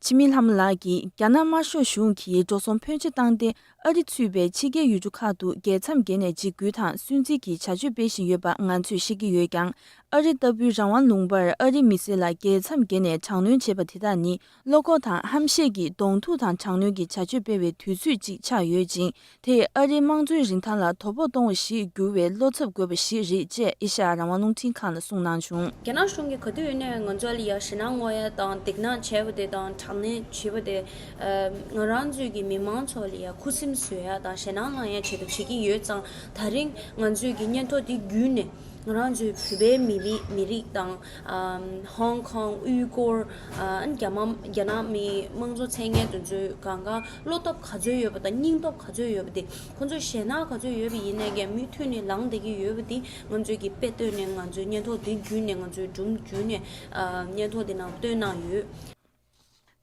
ཆི་མིན་ལྷ་མོ་ལགས་ཀྱིས་རྒྱ་ནག་དམར་ཤོག་གཞུང་གིས་འགྲོ་སོང་ཕོན་ཆེ་བཏང་སྟེ་ཨ་རི་ཚུད་པའི་ཕྱི་རྒྱལ་ཡུལ་གྲུ་ཁག་ཏུ་རྒྱལ་མཚམས་བརྒལ་ནས་འཇིགས་སྐུལ་དང་སུན་གཙེར་གྱི་བྱ་སྤྱོད་སྤེལ་བཞིན་ཡོད་པ་ང་ཚོས་ཤེས་ཀྱི་ཡོད་ཀྱང། ཨ་རི་ལྟ་བུའི་རང་དབང་ལུང་པར་ཨ་རིའི་མི་སེར་ལ་རྒྱལ་མཚམས་བརྒལ་ནས་དྲག་གནོན་བྱེད་པ་དེ་དག་ནི་བློ་ཁོག་དང་ཧམ་བཤད་ཀྱིས་གདོང་ཐུག་དང་དྲག་གནོན་གྱི་བྱ་སྤྱོད་སྤེལ་བའི་དུས་ཚོད་ཅིག་ཆགས་ཡོད་ཅིང་དེས་ཨ་རིའི་དམངས་གཙོའི་རིན་ཐང་ལ་དོ་ཕོག་གཏོང་བ་ཞིག་འགྱུར་བའི་བློ་འཚབ་དགོས་པ་ཞིག་རེད་ཅེས་ཨེ་ཤ་ཡ་རང་དབང་རླུང་འཕྲིན་ཁང་ལ་གསུངས་གནང་བྱུང། རྒྱ་ནག་གཞུང་གིས་ག་དུས་ཡིན་ནས་ང་ཚོ་ལ་ཡ་ཞེད་སྣང་དངོས་དང་སྡིགས་སྣང་བྱས་པ་དེ་དང་དྲག་གནོན་བྱས་པ་དེ་ང་རང་ཚོས་ཀྱི་མི་མང་ཚོ་ལ་ཡང་ཁུ་སིམ་བཟོས་ཡག་དང་ཞེད་སྣང་ལངས་ཡག་བྱེད་དུ་བྱེད་ཀྱིན་ཡོད་ཙང་ད་རིང་ང་ཚོས་ཀྱི་སྙན་ཐོ་དེ་བརྒྱུད་ནས་ང་རང་ཚོའི་བོད་པའི་མི་རིགས་མི་རིགས་དང། ཧོང་ཀོང་དབུས་སྐོར། རྒྱ་རྒྱ་ནག་མི་དམངས་ཚོ་མཚན་སྙན་དུ་ཚོས་གང་གང་བློ་སྟོབས་ག་ཚོད་ཡོད་པ་དང་སྙིང་སྟོབས་ག་ཚོད་ཡོད་པ་དེ་ཁོང་ཚོ་ཞེད་སྣང་ག་ཚོད་ཡོད་པ་ཡིན་ནའི་ཀྱང་མུས་མཐུད་ནས་ལངས་བསྡད་ཀྱི་ཡོད་པ་དེ་ང་ཚོས་ཀྱི་དཔེ་བཏོན་ནས་ང་ཚོའི་སྙན་ཐོ་དེ་བརྒྱུད་ནས་ང་ཚོའི་སྒྲུང་བརྒྱུད་ནས་སྙན་ཐོ་དེ་ནང་བཏོན་གནང་ཡོད།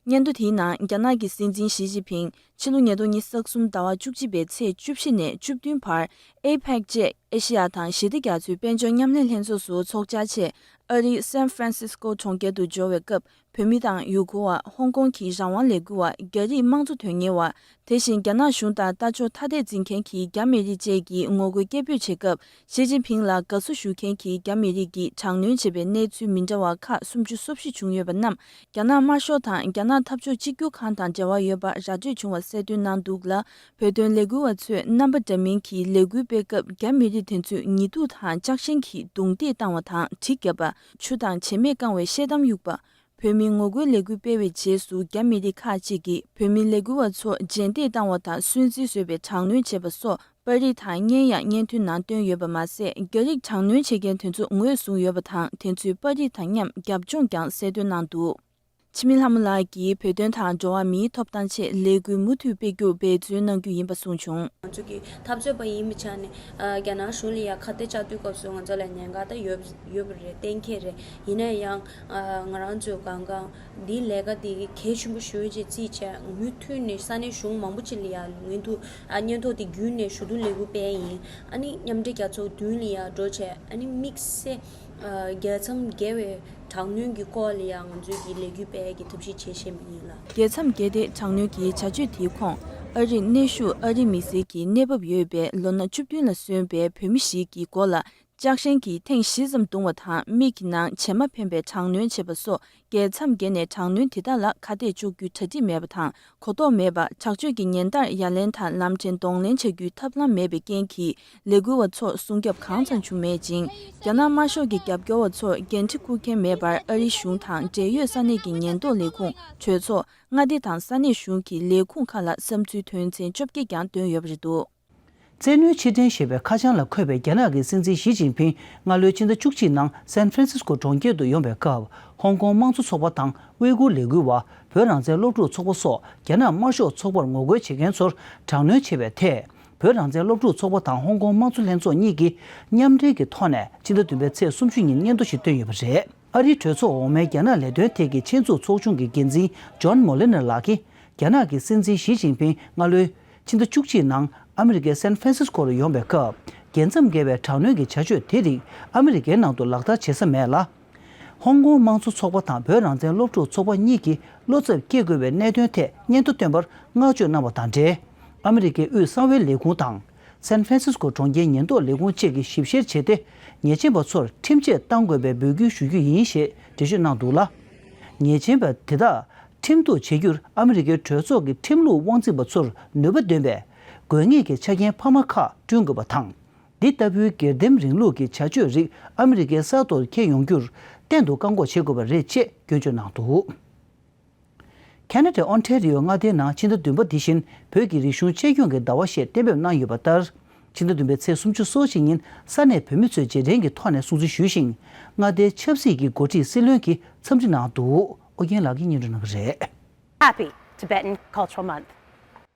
སྙན་ཐོ་དེའི་ནང་རྒྱ་ནག་གི་སྲིད་འཛིན་ཞི་ཅིན་ཕིང་ཕྱི་ལོ་ཉིས་སྟོང་ཉིས་སྟོང་གསུམ་ཟླ་བ་བཅུ་གཅིག་པའི་ཚེས་བཅུ་བཞི་ནས་བཅུ་བདུན་བར APEC བཅས་ཨེ་ཤེ་ཡ་དང་ཞི་བདེ་རྒྱ་མཚོའི་དཔལ་འབྱོར་མཉམ་ལས་ལྷན་ཚོགས་སུ་ཚོགས་བཅར་ཆེད་ཨ་རིའི San Francisco གྲོང་ཁྱེར་དུ་འབྱོར་བའི་སྐབས་བོད་མི་དང་ཡུ་གུར་བ་ཧོང་ཀོང་གི་རང་དབང་ལས་འགུལ་བ་རྒྱ་རིགས་དམངས་གཙོ་དོན་གཉེར་བ་དེ་བཞིན་རྒྱ་ནག་གཞུང་དང་ལྟ་ཕྱོགས་ཐ་དད་འཛིན་མཁན་གྱི་རྒྱ་མི་རིགས་བཅས་ཀྱིས་ངོ་རྒོལ་སྐད་འབོད་བྱེད་སྐབས་ཞི་ཅིན་ཕིང་ལ་དགའ་བསུ་ཞུ་མཁན་གྱི་རྒྱ་མི་རིགས་ཀྱིས་དྲག་གནོན་བྱས་པའི་གནས་ཚུལ་མི་འདྲ་བ་ཁག་སུམ་ཅུ་སོ་བཞི་བྱུང་ཡོད་པ་རྣམས་རྒྱ་ནག་དམར་ཤོག་དང་རྒྱ་ནག་འཐབ་ཕྱོགས་གཅིག་གྱུར་ཁང་དང་འབྲེལ་བ་ཡོད་པ་ར་སྤྲོད་བྱུང་བ་གསལ་སྟོན་གནང་འདུག་ལ་བོད་དོན་ལས་འགུལ་བ་ཚོས་རྣམ་པ་འདྲ་མིན་གྱི་ལས་འགུལ་སྤེལ་སྐབས་རྒྱ་མི་རིགས་དེ་ཚོས་ཉེ་དུ་དང་ལྕགས་ཞེན་གྱིས་རྡུང་རྡེག་བཏང་བ་དང་གྲི་བརྒྱབ་པ་ཆུ་དང་བྱེ་མས་བཀང་བའི་ཤེལ་དམ་དབྱུག་པ་བོད་མིའི་ངོ་རྒོལ་ལས་འགུལ་སྤེལ་བའི་རྗེས་སུ་རྒྱ་མི་སྡེ་ཁག་ཅིག་གིས་བོད་མི་ལས་འགུལ་བ་ཚོ་རྗེས་འདེད་བཏང་བ་དང་སུན་གཙེར་བཟོས་པའི་དྲག་གནོན་བྱས་པ་སོགས་པར་རིས་དང་བརྙན་ཡང་བརྙན་ཐུང་ནང་བཏོན་ཡོད་པ་མ་ཟད་རྒྱ་རིགས་དྲག་གནོན་བྱེད་མཁན་དེ་ཚོ་ངོས་བཟུང་ཡོད་པ་དང་དེ་ཚོའི་པར་རིས་དང་མཉམ་རྒྱབ་ལྗོངས་ཀྱང་གསལ་སྟོན་གནང་འདུག་འཆི་མེད་ལྷ་མོ་ལགས་ཀྱིས་བོད་དོན་དང་འགྲོ་བ་མིའི་ཐོབ་ཐང་ཆེད་ལས་འགུལ་མུ་མཐུད་སྤེལ་རྒྱུར་འབད་བརྩོན་གནང་རྒྱུ་ཡིན་པ་གསུངས་བྱུང། ང་ཚོ་གིས་འཐབ་རྩོད་པ་ཡིན་པའི་ཆ་ནས་རྒྱ་ནག་གཞུང་ལ་ཡང་ཁ་གཏད་གཅག་དུས་སྐབས་སུ་ང་ཚོ་ལ་ཉེན་ཁ་དེ་ཡོད་པ་རེད་གཏན་འཁེལ་རེད་ཡིན་ན་ཡང། ང་རང་ཚོའི་གངས་ཀང་འདིའི་ལས་ཀ་དེ་གལ་ཆེན་པོ་ཞིག་རེད་ཅེས་བརྗེད་བྱས་མུས་མཐུད་ནས་ས་གནས་གཞུང་མང་པོ་ཅིག་ལ་ཡང་ངོས་འཐུ་སྙན་ཐོ་དེ་བརྒྱུད་ནས་ཞུ་གཏུག་ལས་འགུལ་སྤེལ་ཡིན་ཨ་ནི་མཉམ་འབྲེལ་རྒྱལ་ཚོགས་བདུན་ལ་ཡང་འགྲོ་ཆེད་ཨ་ནི་དམིགས་བསལ་རྒྱལ་མཚམས་བརྒལ་བའི་དྲག་གནོན་གྱི་སྐོར་ལ་ཡང་ང་ཚོས་ཀྱི་ལས་འགུལ་སྤེལ་གྱི་ཐབས་ཤེས་བྱེད་ཤེས་མ་ཡིན་ལ། རྒྱལ་མཚམས་བརྒལ་ཏེ་དྲག་གནོན་གྱི་བྱ་སྤྱོད་དེའི་ཁོངས་ཨ་རིར་གནས་བཞུགས་ཨ་རིའི་མི་སེར་གྱི་གནས་བབ་ཡོད་པའི་ལོ་ན་བཅུ་བདུན་ལ་སོན་པའི་བོད་མི་ཞིག་གི་མགོ་ལ་ལྕགས་ཧྲེང་གིས་ཐེངས་བཞི་ཙམ་བརྡུང་བ་དང་མིག་གི་ནང་བྱེ་མ་འཕེན་པའི་དྲག་གནོན་བྱེད་པ་སོགས་རྒྱལ་མཚམས་བརྒལ་ནས་དྲག་གནོན་དེ་དག་ལ་ཁ་གཏད་གཅོག་རྒྱུའི་གྲ་སྒྲིག་མེད་པ་དང་གོ་རྟོགས་མེད་པ་དྲག་སྤྱོད་ཀྱི་ཉེན་བརྡར་ཡ་ལན་དང་ལམ་ཕྲན་གདོང་ལེན་བྱ་རྒྱུའི་ཐབས་ལམ་མེད་པའི་རྐྱེན་གྱིས་ལས་འགུལ་བ་ཚོར་སྲུང་སྐྱོབ་གང་ཙམ་བྱུང་མེད་ཅིང་རྒྱ་ནག་དམར་ཤོག་གི་རྒྱབ་སྐྱོར་བ་ཚོར་འགན་འཁྲི་འཁུར་མཁན་མེད་པར་ཨ་རིའི་གཞུང་དང་འབྲེལ་ཡོད་ས་གནས་ཀྱི་ཉེན་རྟོག་ལས་ཁུངས་གྲོས་ཚོགས་མངའ་སྡེ་དང་ས་གནས་གཞུང་གི་ལས་ཁུངས་ཁག་ལ་བསམ་ཚུལ་དོན་ཚན་བཅོ་བརྒྱད་ཀྱང་བཏོན་ཡོད་པ་རེད་འདུག། བཙན་གནོན་ཕྱིར་འཐེན་ཞེས་པའི་ཁ་བྱང་ལ་འཁོད་པའི་རྒྱ་ནག་གི་སྲིད་འཛིན་ཞི་ཅིན་ཕིན་སྔ་ལོའི་ཕྱི་ཟླ་བཅུ་གཅིག་ནང་སན་ཧྥ་རན་སིས་ཀོ་གྲོང་ཁྱེར་དུ་ཡོང་པའི་སྐབས་ཧོང་ཀོང་དམངས་གཙོ་ཚོགས་པ་དང་དབུས་ཁུལ་ལས་འགུལ་བ་བོད་རང་བཙན་སློབ་ཕྲུག་ཚོགས་པ་སོགས་རྒྱ་ནག་དམར་ཤོག་ཚོགས་པར་ངོ་རྒོལ་བྱེད་མཁན་ཚོར་དྲག་གནོན་བྱས་པའི་ཐད་བོད་རང་བཙན་སློབ་ཕྲུག་ཚོགས་པ་དང་ཧོང་ཀོང་དམངས་གཙོ་ལྷན་ཚོགས་གཉིས་ཀྱིས་མཉམ་འབྲེལ་གྱི་ཐོག་ནས་ཕྱི་ཟླ་བདུན་པའི་ཚེས་སུམ་ཅུ་ཉིན་སྙན་ཐོ་ཞིག་བཏོན་ཡོད་པ་རེད། ཨ་རིའི་གྲོས་ཚོགས་འོག་མའི་རྒྱ་ནག་ལས་དོན་ཐད་ཀྱི་ཆེད་འཛུགས་ཚོགས་ཆུང་གི་འགན་འཛིན John Moliner ལགས་ཀྱིས་རྒྱ་ནག་གི་སྲིད་འཛིན་ཞི་ཅིན་ཕིང་སྔ་ལོའི། ཕྱི་ཟླ་བཅུ་གཅིག་ནང་ཨ་མི་རི་ཀའི San Francisco རུ་ཡོང་བའི་སྐབས་རྒྱལ་མཚམས་བརྒལ་བའི་དྲག་གནོན་གྱི་བྱ་སྤྱོད་དེ་རིགས་ཨ་མི་རི་ཀའི་ནང་དུ་ལག་བསྟར་བྱེད་ས་མེད་ལ། ཧོང་ཀོང་དམངས་གཙོ་ཚོགས་པ་དང་བོད་རང་བཙན་སློབ་ཕྲུག་ཚོགས་པ་གཉིས་ཀྱིས་བློ་འཚབ་སྐྱེ་དགོས་པའི་གནད་དོན་ཐད་སྙན་ཐོ་བཏོན་པར་བསྔགས་བརྗོད་གནང་བ་དང་འབྲེལ་ཨ་མི་རི་ཀའི་དབུས་གསང་བའི་ལས་ཁུངས་དང། San Francisco གྲོང་ཁྱེར་ཉེན་རྟོག་ལས་ཁུངས་བཅས་ཀྱིས་ཞིབ་བཤེར་བྱས་ཏེ་ཉེས་ཅན་པ་ཚོར་ཁྲིམས་ཆད་གཏང་དགོས་པའི་འབོད་སྐུལ་ཞུ་རྒྱུ་ཡིན་ཞེས་འགྲེལ་བརྗོད་གནང་འདུག་ལ། ཉེས་ཅན་པ་དེ་དག་ཁྲིམས་གཏུག་བྱེད་རྒྱུར་ཨ་མི་རི་ཀའི་གྲོས་ཚོགས་ཀྱི་ཁྲིམས་ལུགས་དབང་འཛིན་པ་ཚོར་ནུས་པ་འདོན་པའི་དགོས་ངེས་ཀྱི་ཆ་རྐྱེན་འཕར་མ་ཁག་བསྐྲུན་དགོས་པ་དང། འདི་ལྟ་བུའི་སྒེར་སྡེམ་རིང་ལུགས་ཀྱི་བྱ་སྤྱོད་རིགས་ཨ་མི་རི་ཀའི་གསར་གཏོད་འཁྱེར་ཡོང་རྒྱུར་གཏན་དུ་བཀག་འགོག་བྱེད་དགོས་པ་རེད་ཅེས་སྐྱོན་བརྗོད་གནང་འདུག། Canada Ontario མངའ་སྡེའི་ནང་ཕྱི་ཟླ་བདུན་པ་འདི་བཞིན་བོད་ཀྱི་རིག་གཞུང་གཅེས་སྐྱོང་གི་ཟླ་བ་ཞེས་གཏན་འབེབས་གནང་ཡོད་པ་ལྟར། ཕྱི་ཟླ་བདུན་པའི་ཚེས་སུམ་ཅུ་སོ་གཅིག་ཉིན་ས་གནས་བོད་མི་ཚོས་རྗེས་དྲན་གྱི་ཐོག་ནས་སྲུང་བརྩི་ཞུས་ཤིང། མངའ་སྡེའི་ཆབ་སྲིད་ཀྱི་འགོ་ཁྲིད་སྲིད་བློན་གྱིས་འཚམས་འདྲི་གནང་འདུག་ཨོ་རྒྱན་ལགས་ཀྱིས་སྙན་སྒྲོན་གནང་གི་རེད། Happy Tibetan Cultural Month།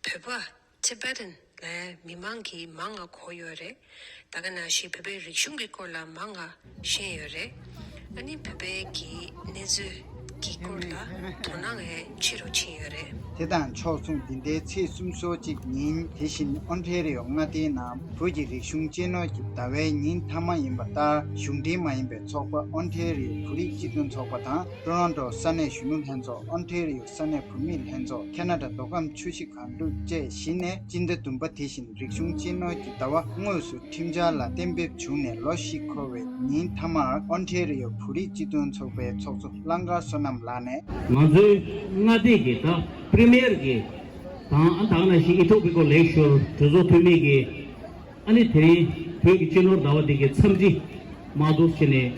བོད་པ། Tibetan། ལ་མི་མང་གིས་མང་ང་གོ་ཡོད་རེད། ད་ག་ན་ཞིག་བོད་པའི་རིག་གཞུང་གི་སྐོར་ལ་མང་ང་ཤེས་ཡོད་རེད། ཨ་ནི་བོད་པའི་གི་གནས་ཚུལ་གི་སྐོར་ལ་དོ་སྣང་ངས་ཆེ་རུ་ཕྱིན་ཡོད་རེད། དེ་དང་ཕྱོགས་མཚུངས་འདི་ཟླའི་ཚེས་གསུམ་སོ་གཅིག་ཉིན་དེ་བཞིན་ཨོན་ཧྲེ་རི་ཡོ་མངའ་སྡེའི་ནང་བོད་ཀྱི་རིག་གཞུང་གཅེས་ནོར་གྱི་ཟླ་བའི་ཉིན་མཐའ་མ་ཡིན་པ་ལྟར་གཞུང་འབྲེལ་མ་ཡིན་པའི་ཚོགས་པ་ཨོན་ཧྲེ་རི་ཡོ་བོད་རིགས་སྤྱི་མཐུན་ཚོགས་པ་དང་ཀྲོ་རོན་ཏོ་ས་གནས་གཞོན་ནུ་ལྷན་ཚོགས་ཨོན་ཧྲེ་རི་ཡོ་ས་གནས་བུད་མེད་ལྷན་ཚོགས་ཁ་ན་དྲ་རྡོ་སྒམ་ཆུ་བཞི་གངས་འབྲུག་བཅས་བཞི་ནས་སྤྱི་ཟླ་བདུན་པ་དེ་བཞིན་རིག་གཞུང་གཅེས་ནོར་གྱི་ཟླ་བ་དངོས་སུ་ཁྲིམས་འཆར་ལ་གཏན་འབེབས་བྱུང་ནས་ལོ་བཞི་འཁོར་བའི་ཉིན་མཐའ་མར་ཨོན་ཐའེ་རི་ཡོ་བོད་རིགས་སྤྱི་མཐུན་ཚོགས་པའི་ཚོགས་གཙོ་གླང་དཀར་བསོད་ནམས་ལགས་ནས། ང་ཚོའི་མངའ་སྡེ་གི་དག Premier གི་དང་ཨ་དག་ན་ཤི་ཨི་ཐོག་པི་ཀོ་ལེགས་ཤོར་གྲོས་ཚོགས་འཐུས་མི་གི། ཨ་ནི་དེ་རིང་བོད་ཀྱི་གཅེས་ནོར་ཟླ་བ་འདི་གའི་འཚམས་འདྲི་མ་གཏོགས་ཕྱི་ནས་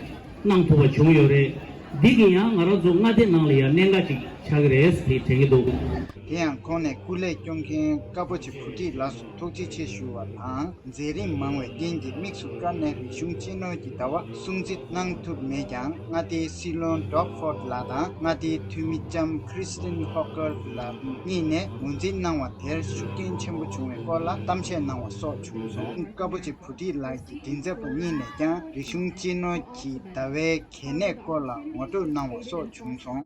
གནང་ཐུབ་པ་བྱུང་ཡོད་རེད། འདི་གིས་ཡང་ང་རང་ཚོ་མངའ་སྡེ་ནང་ལ་ཡར་གནས་འགའ་ཅིག་ཆགས་ཀྱི་རེད་དེ་དྲན་གྱི་འདུག། དེ་ཡང་ཁོང་ནས་སྐུ་ལས་སྐྱོང་མཁན་བཀའ་བོ་ཆེ་བུ་ཁྲིད་ལགས་སུ་ཐུགས་རྗེ་ཆེ་ཞུ་བ་དང་མཛད་རིམ་མང་བའི་རྟེན་གྱི་དམིགས་སུ་བཀར་ནས་རིག་གཞུང་གཅེས་ནོར་གྱི་ཟླ་བ། སྲུང་བརྩི་གནང་ཐུབ་མེད་ཀྱང་མངའ་སྡེའི་སྲིད་བློན Doug Ford ལགས་དང་མངའ་སྡེའི་འཐུས་མི་ལྕམ Christine Hocker ལགས་གཉིས་ནས་ངོས་འཛིན་གནང་བ་དེར་ཤུགས་རྐྱེན་ཆེན་པོ་བྱུང་བའི་སྐོར་ལ་གཏམ་བཤད་གནང་བ་སོགས་བྱུང་སོང། ཀ་པོ་ཆེ་བུ་ཏི་ལགས་ཀྱི་མགྲིན་ཚབ་པ་གཉིས་ནས་ཀྱང་རིག་གཞུང་གཅེས་ནོར་གྱི་ཟླ་བའི་གལ་གནད་སྐོར་ལ་ངོ་སྤྲོད་གནང་བ་སོགས་བྱུང་སོང།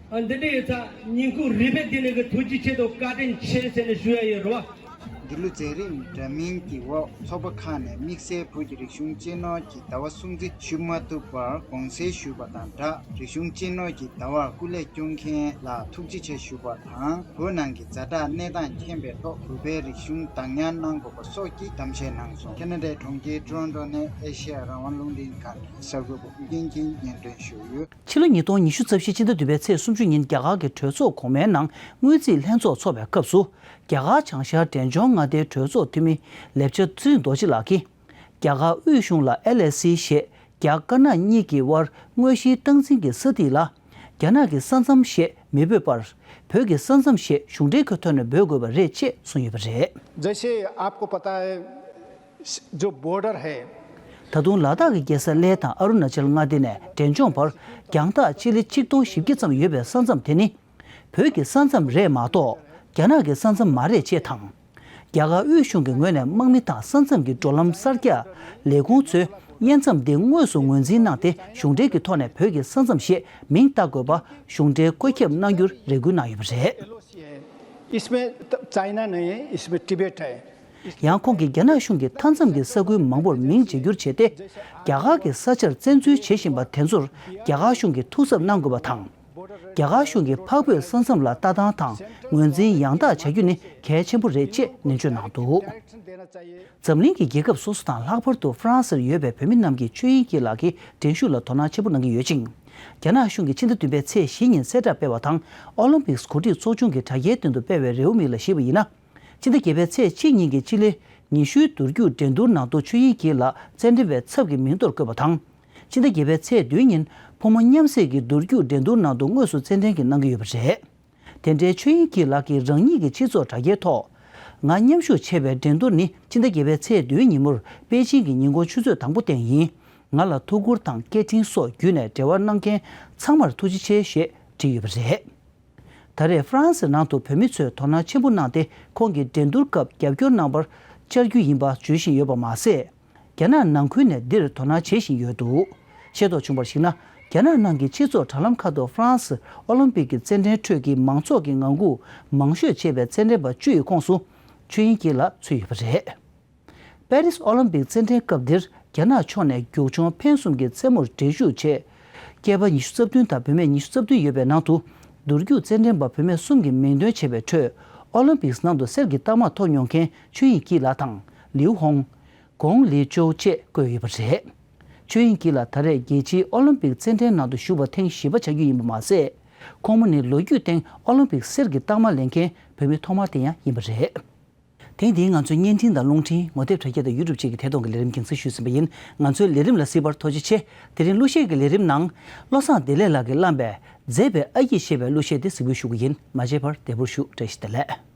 ཨ་འདི་འདྲ་ཡོད་ཚ་ཉིན་གུང་རི་པའི་སྡིངས་ནས་གི་ཐུགས་ཀྱི་ཆེད་དུ་བཀའ་དྲིན་ཆེ་ཟེར་ནས་ཞུ་ཡ་ཡོད་རེད་བ། འདི་ལོ་མཛད་རིམ་འདྲ་མིན་གྱི་འོག་ཚོགས་པ་ཁག་ནས་དམིགས་བསལ་བོད་ཀྱི་རིག་གཞུང་གཅེས་ནོར་གྱི་ཟླ་བ་སྲུང་བརྩི་ཞུ་མ་ཐུབ་པར་དགོངས་སེལ་ཞུས་པ་དང་སྦྲགས་རིག་གཞུང་གཅེས་ནོར་གྱི་ཟླ་བར་སྐུ་ལས་སྐྱོང་མཁན་ལ་ཐུགས་རྗེ་ཆེ་ཞུ་བ་དང་བོད་ནང་གི་རྫ་དྲག་གནས་སྟངས་མཁྱེན་པའི་ཐོག་བོད་པའི་རིག་གཞུང་བདག་ཉར་གནང་དགོས་པ་སོགས་ཀྱི་གཏམ་བཤད་གནང་སོང། ཁེ་ན་ཏའི་གྲོང་ཁྱེར Toronto ནས་ཨེ་ཤེ་ཡ་རང་དབང་རླུང་འཕྲིན་ཁང་གི་གསར་འགོད་པ་ཨུ་རྒྱན་གྱིས་སྙན་སྒྲོན་ཞུས་ཡོད། ཕྱི་ལོ་ཉིས་སྟོང་ཉི་ཤུ་རྩ་བཞི་སྤྱི་ཟླ་བདུན་པའི་ཚེས་སུམ་ཅུ་ཉིན་རྒྱ་གར་གྱི་གྲོས་ཚོགས་གོང་མའི་ནང་དངུལ་རྩིས་ལྷན་ཚོགས་འཚོགས་པའི་སྐབས་སུ། རྒྱ་གར་བྱང་ཤར་འབྲས་ལྗོངས་མངའ་སྡེའི་གྲོས་ཚོགས་འཐུས་མི་ལེབ་ཆ་ཙུན་རྡོ་རྗེ་ལགས་ཀྱིས། རྒྱ་གར་དབུས་གཞུང་ལ་ཨེལ་ཨེ་སི་ཞེས་རྒྱ་དཀར་ནག་གཉིས་ཀྱི་དབར་དངོས་གཞིའི་སྟངས་འཛིན་གྱི་ས་ཐིག་ལ། རྒྱ་ནག་གི་ས་མཚམས་ཞེས་མི་འབོད་པར། བོད་ཀྱི་ས་མཚམས་ཞེས་གཞུང་འབྲེལ་གྱི་ཐོག་ནས་འབོད་དགོས་པ་རེད་ཅེས་གསུངས་ཡོད་པ་རེད། རྫས་བཤེར་ཨབ་གོ་པ་དང། ཇོ་བོ་ཏྲར་ཧེ། ད་དུང་ལ་དྭགས་ཀྱི་རྒྱལ་ས་ལེ་དང་ཨ་རུ་ན་ཅལ་མངའ་སྡེ་ནས་འབྲས་ལྗོངས་བར་རྒྱང་ཐག་སྤྱི་ལེ་ཆིག་སྟོང་བཞི་བརྒྱ་ཙམ་ཡོད་པའི་ས་མཚམས་དེ་ནི། བོད་ཀྱི་ས་མཚམས་རེད་མ་གཏོགས་རྒྱ་ནག་གི་ས་མཚམས་མ་རེད་ཅེས་དང། རྒྱ་གར་དབུས་གཞུང་གི་ངོས་ནས་དམག་མི་དང་ས་མཚམས་ཀྱི་འགྲོ་ལམ་གསར་རྒྱག་ལས་ཁུངས་ཚོས་དབྱེ་མཚམས་འདི་དངོས་སུ་ངོས་འཛིན་གནང་སྟེ་གཞུང་འབྲེལ་གྱི་ཐོག་ནས་བོད་ཀྱི་ས་མཚམས་ཞེས་མིང་བཏགས་དགོས་པ་གཞུང་འབྲེལ་བཀོད་ཁྱབ་གནང་རྒྱུར་རེ་སྐུལ་གནང་ཡོད་པ་རེད། ཡང་ཁོང་གིས་རྒྱ་ནག་གཞུང་གིས་མཐའ་མཚམས་ཀྱི་ས་ཁུལ་མང་པོར་མིང་བརྗེ་བསྒྱུར་བྱས་ཏེ། རྒྱ་གར་གྱི་ས་ཆར་བཙན་འཛུལ་བྱེད་བཞིན་པ་དེ་ཚོར་རྒྱ་གར་གཞུང་གིས་ཐུགས་གཟབ་གནང་དགོས་པ་དང། རྒྱ་གར་གཞུང་གིས་འཕགས་བོད་ས་མཚམས་ལ་ལྟ་སྟངས་དང་ངོས་འཛིན་ཡང་དག་བྱ་རྒྱུ་ནི་གལ་ཆེན་པོ་རེད་ཅེས་ནན་བརྗོད་གནང་འདུག་འཛམ་གླིང་གི་རྒྱལ་ཁབ་སོ་སོ་དང་ལྷག་པར་དུ་ཧྥ་རན་སིར་ཡོད་པའི་བོད་མི་རྣམས་ཀྱིས་ཆོས་དབྱིངས་སྐྱིད་ལགས་ཀྱི་འགྲན་ཞུགས་ལ་དོ་སྣང་ཆེན་པོ་གནང་གི་ཡོད་ཅིང། རྒྱ་ནག་གཞུང་གིས་ཕྱི་ཟླ་བདུན་པའི་ཚེས་བཞི་ཉིན་གསལ་བསྒྲགས་སྤེལ་བ་དང་ཨོ་ལིམ་པིག་གོ་སྒྲིག་ཚོགས་ཆུང་གིས་དྲ་རྒྱའི་སྟེང་དུ་སྤེལ་བའི་རེའུ་མིག་ལ་གཞིགས་པ་ཡིན་ན། སྤྱི་ཟླ་བརྒྱད་པའི་ཚེས་གཅིག་ཉིན་གྱི་སྤྱི་ལེ་ཉི་ཤུའི་འདུར་རྒྱུག་འགྲན་བསྡུར་ནང་དུ་ཆོས་དབྱིངས་སྐྱིད་ལགས་རྩེད་འགྲན་པའི་ཚབ་ཀྱི་མིང་ཐོར་བཀོད་པ་དང། སྤྱི་ཟླ་བརྒྱད་པའི་ཚེས་བདུན་ཉིན་ཕོ་མོ་མཉམ་བསྲེས་ཀྱི་འདུར་རྒྱུག་འགྲན་བསྡུར་ནང་དུ་དངོས་སུ་རྩེད་འགྲན་གྱི་གནང་གི་ཡོད་པ་རེད། དེ་འབྲེལ་ཆོས་དབྱིངས་སྐྱིད་ལགས་ཀྱིས་རང་ཉིད་ཀྱི་སྤྱི་ཚོགས་དྲ་རྒྱའི་ཐོག། ང་མཉམ་ཤུགས་ཆེ་བའི་འགྲན་བསྡུར་ནི་སྤྱི་ཟླ་བརྒྱད་པའི་ཚེས་བདུན་ཉིན་མོར་པེ་ཅིང་གི་ཉིན་དགོང་ཆུ་ཚོད་དང་པོ་སྟེང་ཡིན། ང་ལ་ཐུགས་ཁུར་དང་སྐད་འཕྲིན་སོགས་བརྒྱུད་ནས་འབྲེལ་བ་གནང་མཁན་ཚང་མར་ཐུགས་རྗེ་ཆེ་ཞེས་བྲིས་ཡོད་པ་རེད། ད་རེས་ཧྥ་རན་སིའི་ནང་དུ་བོད་མི་ཚོས་དོ་སྣང་ཆེན་པོ་གནང་སྟེ་ཁོང་གི་འགྲན་བསྡུར་སྐབས་རྒྱབ་སྐྱོར་གནང་བར་བཅར་རྒྱུ་ཡིན་པ་བརྗོད་བཞིན་ཡོད་པ་མ་ཟད། རྒྱ་ནག་ནང་ཁུལ་ནས་འདིར་དོ་སྣང་བྱེད་བཞིན་ཡོད་འདུག་ཤེས་རྟོགས་བྱུང་བར་གཞིགས་ན་རྒྱ་ནག་ནང་གི་སྤྱི་ཚོགས་དྲ་ལམ་ཁག་ཏུ་ཧྥ་རན་སིར་ཨོ་ལིམ་པིག་གི་རྩེད་འགྲན་ཁྲོད་ཀྱི་མང་ཚོགས་ཀྱི་ངང་སྒུག་མང་ཤོས་བྱེད་པའི་རྩེད་འགྲན་པ་བཅུ་ཡི་ཁོངས་སུ་ཆོས་དབྱིང་སྐྱིད་ལགས་ཚུད་ཡོད་པ་རེད། པེ་རིས་ཨོ་ལིམ་པིག་རྩེད་འགྲན་སྐབས་འདིར་རྒྱ་ནག་ཕྱོགས་ནས་རྒྱུགས་ཆུང་འཕེན་གསུམ་གྱི་རྩེད་མོར་འགྲན་ཞུགས་བྱས། སྐྱེས་པ་ཉི་ཤུ་རྩ་བདུན་དང་བུད་མེད་ཉི་ཤུ་རྩ་བདུན་ཡོད་པའི་ནང་དུ། འདུར་རྒྱུག་རྩེད་འགྲན་པ་བུད་མེད་གསུམ་གྱི་མིང་འདོན་བྱས་པའི་ཁྲོད། ཨོ་ལིམ་པིག་ནང་དུ་གསེར་གྱི་རྟགས་མ་ཐོབ་མྱོང་མཁན་ཆོས་དབྱིང་སྐྱིད་ལགས་དང་ལིའུ་ཧོང། ཀོང་ལི་ཅོའུ་བཅས་བཀོད་ཡོད་པ་རེད། ཆོས་དབྱིང་སྐྱིད་ལགས་ད་རེས་རྒྱལ་སྤྱིའི་ཨོ་ལིམ་པིག་རྩེད་འགྲན་ནང་དུ་ཞུགས་པར་ཐེངས་བཞི་པ་ཆགས་རྒྱུ་ཡིན་པ་མ་ཟད། ཁོང་མོ་ནི་ལོ་རྒྱུས་སྟེང་ཨོ་ལིམ་པིག་གསེར་གྱི་རྟགས་མ་ལེན་མཁན་བུད་མེད་ཐོག་མ་དེ་ཡང་ཡིན་པ་རེད། ཐེངས་འདིའི་ང་ཚོའི་བརྙན་འཕྲིན་དང་རླུང་འཕྲིན་ངོ་དེབ་དྲ་རྒྱ་དང་ཡུ་ཏུབ་བཅས་ཀྱི་ཐད་གཏོང་གི་ལས་རིམ་འགྱིང་ཚུལ་ཞུས་ཟིན་པ་ཡིན། ང་ཚོའི་ལས་རིམ་ལ་བསིལ་བར་དོ་ཅི་ཆེ། དེ་རིང་གླུ་གཞས་ཀྱི་ལས་རིམ་ནང། བློ་བཟང་བདེ་ལེགས་ལགས་ཀྱིས་བླངས་པའི། མཛེས་པའི་ཨ་ཡིག་ཞེས་པའི་གླུ་གཞས་དེ་གཟིགས་འབུལ་ཞུ་གི་ཡིན་མ་བརྗེད་པར་དལ་བུར་བཞུགས་བཀྲ་ཤིས་བདེ་ལེགས།